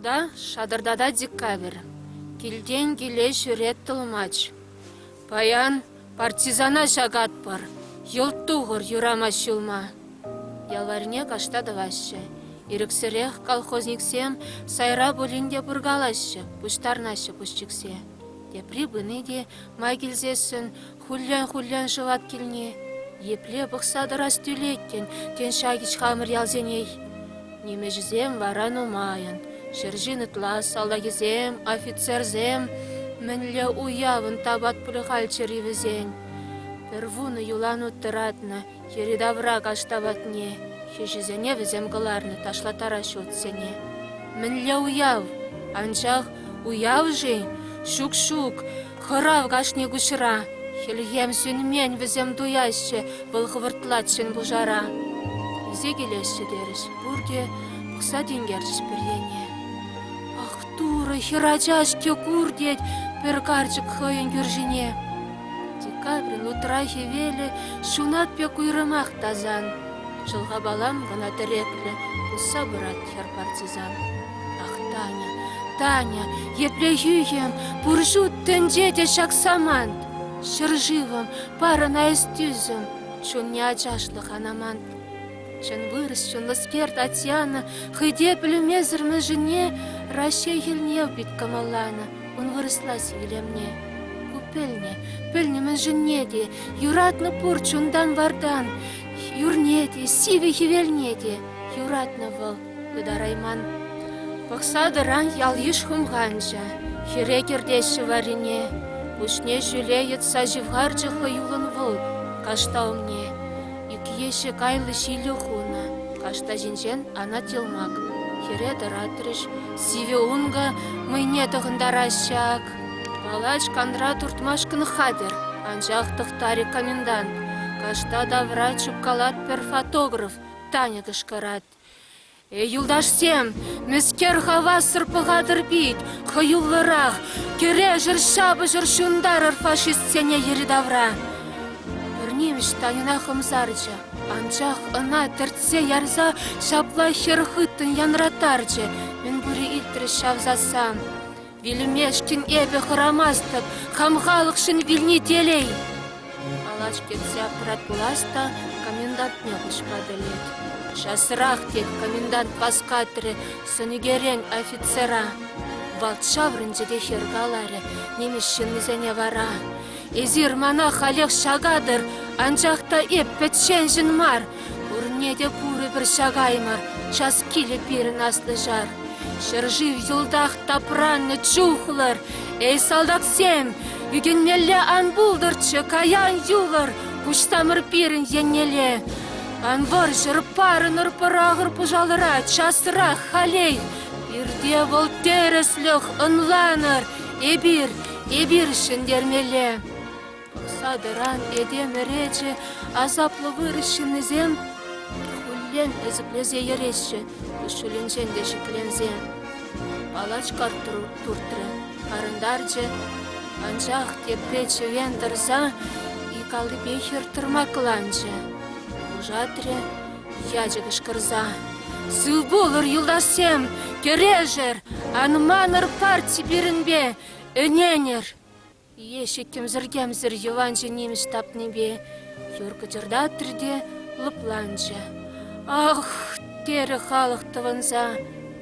Тулта шатӑртатать декабрь, килтен киле ҫӳрет тӑлмач. Паян партизана ҫакатпӑр, йӑлт тухӑр юрамасть ҫулма. Ялварне кашта тӑваҫҫӗ. Ирӗксӗрех колхозниксем сайра пулин те пуркалаҫҫӗ, пуҫтарнаҫҫӗ пусчиксе. Тепри пыни те май килсессӗн хуллен-хуллен шӑвать килни. Епле пӑхса тӑрас тӳлет, тен, ҫак ич хамӑр ялсенех. Нимӗҫӗсем вара нумайӑн. Ҫӗр ҫын ытла салтакӗсем, офицерсем мӗнле уявӑн тапат пулӗ хальччӗр-и вӗсен? Пӗр вунӑ юланут тӑратнӑ йӗри-тавра каҫ тапатне, хӗҫӗсене вӗсем кӑларнӑ ташлаттара ҫуртсене. Мӗнле уяв? Анчах уяв-ши? Ҫук-ҫук, Хӑрав кашни куҫра. Хӗлхем сӳнмен вӗсем туяҫҫӗ, вӑл хӑвӑртлать ҫын пушара. Килсе килеҫҫӗ терӗҫ пурте, пӑхса тинкерчӗҫ пӗр ене. Ах, Турӑ, хӗрача-ҫке кур, тет пӗр карчӑк хӑйӗн кӳршине. Декабрин утра хӗвелӗ ҫунат пек уйрӑмах тасан. Шӑлхапалам кӑна тӗреклӗ, пусса пырать хӗр партизан. Ах, Таня, Таня, епле хӳхӗм, пур ҫут тӗнче те ҫак самант. Ҫӗршывӑм, парӑна эс тӳсӗм, чунне ачашлӑх ан амант. Чӑн вырӑс, чӑнлӑскер Татьяна хӑй те пӗлмесӗр мӗншӗнне Раҫҫей хӗлне пит кӑмӑлланӑ, ун вырӑслать илемне. Ку пӗлнӗ, пӗлнӗ мӗншӗнне те, юратнӑ пур чунтан-вартан, юрне те, сивӗ хӗвелне те. Юратнӑ вӑл Ытарайман. Пӑхса тӑран ял-йыш хумханчӗ. Хӗре кӗртеҫҫӗ варрине. Пуҫне ҫӳле йӑтса ҫывхарчӗ хӑюллӑн вӑл кашта умне. Ӳкеҫҫӗ кайлӑ ҫилӗ хунӑ. Кашта ҫинчен анать йӑлмак. Хӗре тӑратрӗҫ. Сивӗ ункӑ мӑйне тӑхӑнтараҫҫӗ ак. Палач канра туртмашкӑн хатӗр, анчах тӑхтарӗ комендант. Кашта тавра чупкалать пӗр фотограф, Таня кӑшкӑрать. Юлташсем, мӗскер хавассӑр пӑхатӑр пит хӑюллӑрах, кӗрешӗр, ҫапӑҫӑр, ҫунтарӑр фашистсене йӗри-тавра! Пӗр нимӗҫ Таньӑна хӑмсарчӗ, анчах ӑна тӗртсе ярса ҫапла хӗр хыттӑн янратарчӗ. Мӗн пури илтрӗҫ ҫав сассан. Вилӗмешкӗн эпӗ хӑрамастӑп, хам халӑхшӑн вилни телей. Калаҫ кӗтсе аппарат пулас та комендантне куҫма пӗлет. Часрах, тет комендант васкатрӗ сӑнӳкерен офицера. Вӑл ҫаврӑнчӗ те хӗр каларӗ нимӗҫ ҫыннисене вара. Эсир мана халех ҫакатӑр, анчах та эп пӗчченшӗн мар, Пурне те курӑпӑр ҫакаймӑр час килӗ пирӗн аслӑ ҫар. Ҫӗршыв йӑлтах тапраннӑ чухлӑр, эй салтаксем, ӳкӗнмелле ан пултӑрччӗ каян юлӑр куҫсамӑр пирӗн еннелле. Ан вӑрҫӑр, парӑнӑр пӑрахӑр пӑшалӑра часрах халей. Пирте вӑл тӗрӗслӗх ӑнланӑр, эпир, эпир ҫӗнтермелле. Садӑран этем ӗречӗ, асаплӑ вырӑс ҫыннисем хуллен ӗсӗклесе йӗреҫҫӗ, куҫҫулӗнчен те шикленсе. Палачка туртрӗ, парӑнтарчӗ, анчах тепре чӗвен тӑрса икаллипе хӗртӑрмакланчӗ. Пушатрӗ ячӗ кӑшкӑрса. «Сыв пулӑр, юлташсем! Кӗрешӗр! Ан манӑр парти пирӗнпе! Ӗненӗр!» Лешӗ кӗмсӗр-кӗмсӗр йӑванҫӑ нимӗҫ тапнипе юр кӑчӑртатрӗ те лӑпланчӗ. «Ах!» терӗ халӑх тӑвӑнса.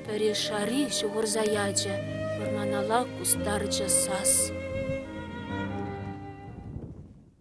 Пӗри шари ҫухӑрса ячӗ, вӑрманалла кустарчӗ сас.